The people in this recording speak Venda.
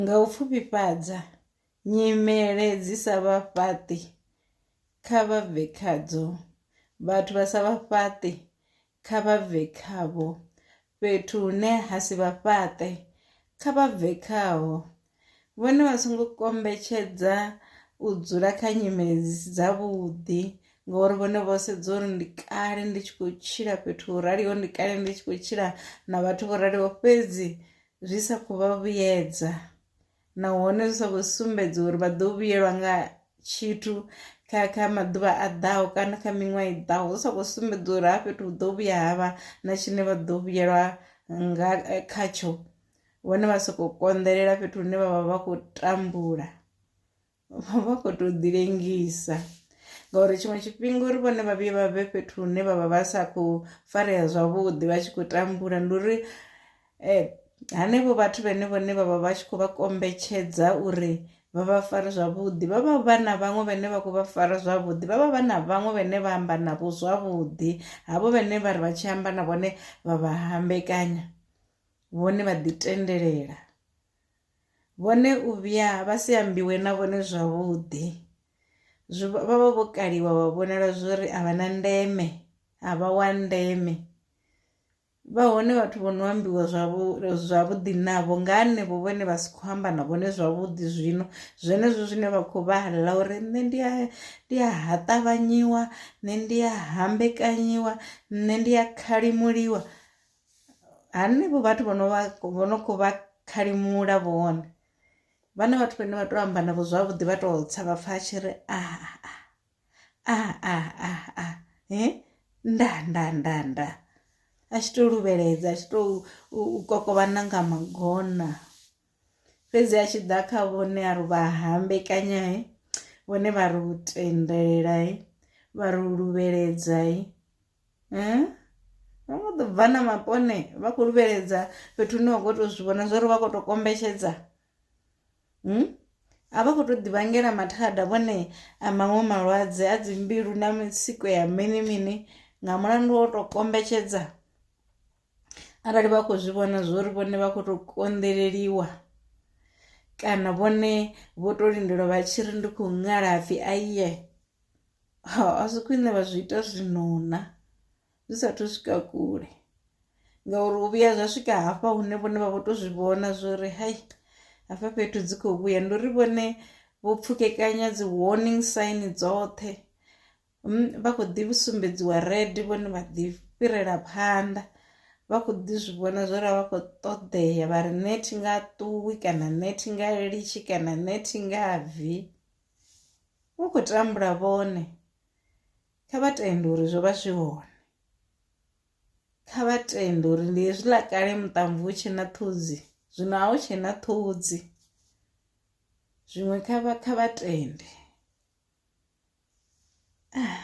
Nga u pfufhifhadza nyimele dzi sa vha fhaṱi kha vha bve khadzo, vhathu vha sa vha fhaṱi kha vha bve khavho, fhethu hune ha si vha fhaṱe kha vha bve khaho, vhone vha songo kombetshedza u dzula kha nyimele dzi si dza vhuḓi ngori vhone vho sedza uri ndi kale ndi tshi khou tshila fhethu ho raliho ndi kale ndi tshi khou tshila na vhathu vho raliho fhedzi zwi sa khou vha vhuyedza nahone zwi sa khou sumbedza uri vha ḓo vhuyelwa nga tshithu kha kha maḓuvha a ḓaho kana kha miṅwaha i ḓaho zwi sa khou sumbedza uri ha fhethu hu ḓo vhuya ha vha na tshine vha ḓo vhuyelwa nga eh, khatsho vhone vha sokou konḓelela fhethu hune vha vha vha khou tambula vha khou tou ḓi lengisa ngauri tshiṅwe tshifhinga uri vhone vha vhuye vha vhe fhethu hune vha vha vha sa khou farea zwavhuḓi vha tshi khou tambula ndi uri um hanevho vhathu vhene vhone vha vha vha tshi khou vha kombetshedza uri vha vha fare zwavhuḓi vha vha vha na vhaṅwe vhane vha khou vha fara zwavhuḓi vha vha vha na vhaṅwe vhane vha amba navho zwavhuḓi havho vhane vha ri vha tshi amba na vhone vha vha hambekanya vhone vha ḓi tendelela Vhone u vhuya vha si ambiwe na vhone zwavhuḓi. Zwi vha vha vho kaliwa vha vhonala zwori a vha na ndeme a vha wa ndeme. Vha hone vhathu vho no ambiwa zwavhu zwavhuḓi navho nga hanevho vhone vha si kho amba na vhone zwavhuḓi zwino zwenezwo zwine vha kho vha ḽa uri nṋe ndi a ndi a ha ṱavhanyiwa nṋe ndi a hambekanyiwa nṋe ndi a khalimuliwa hanevho vhathu vho no vha vho no kho vha khalimula vhone vhana vhathu vhane vha to amba navho zwavhuḓi vha to tsa vha pfha tshi ri a a a a a he nda nda nda nda a tshi to luvheledza a tshi to kokovhana nga magona fhedzi a tshi ḓa kha vhone a ri vha hambekanya he vhone vha ri u tendelela he vha ri u luvheledza he. eh? vha kho ḓo bva na mapone vha khou luvheledza fhethu hune wa khou tou zwi vhona zwa uri vha khou tou kombetshedza hmm? a vha khou tou ḓivhangela mathada vhone a maṅwe malwadze a dzimbilu na mitsiko ya mini mini nga mulandu wo tou kombetshedza arali vha khou zwi vhona zwo uri vhone vha khou tou konḓeleliwa kana vhone vho tou lindelwa vha tshi ri ndi khou ṅala pfhi aiye ha a zwi khwine vha zwi ita zwinona zwi sathu swika kule ngauri u vhuya zwa swika hafha hune vhone vha vho to zwi vhona zwori hai hafha fhethu dzi khou vhuya ndi uri vhone vho pfukekanya dzi warning sign dzoṱhe hmm, vha kho ḓi sumbedziwa red vhone vha ḓi fhirela phanḓa vha kho ḓi zwi vhona zwori vha kho ṱoḓea vha ri nethi nga ṱuwi kana nethi nga litshi kana nethi nga bvi u khou tambula vhone kha vha tende uri zwo vha zwi hone kha vha tende uri ndi hezwi ḽa kale muṱamvu hu tshe na ṱhodzi zwino a hu tshe na ṱhodzi zwiṅwe kha vha kha vha tende ah.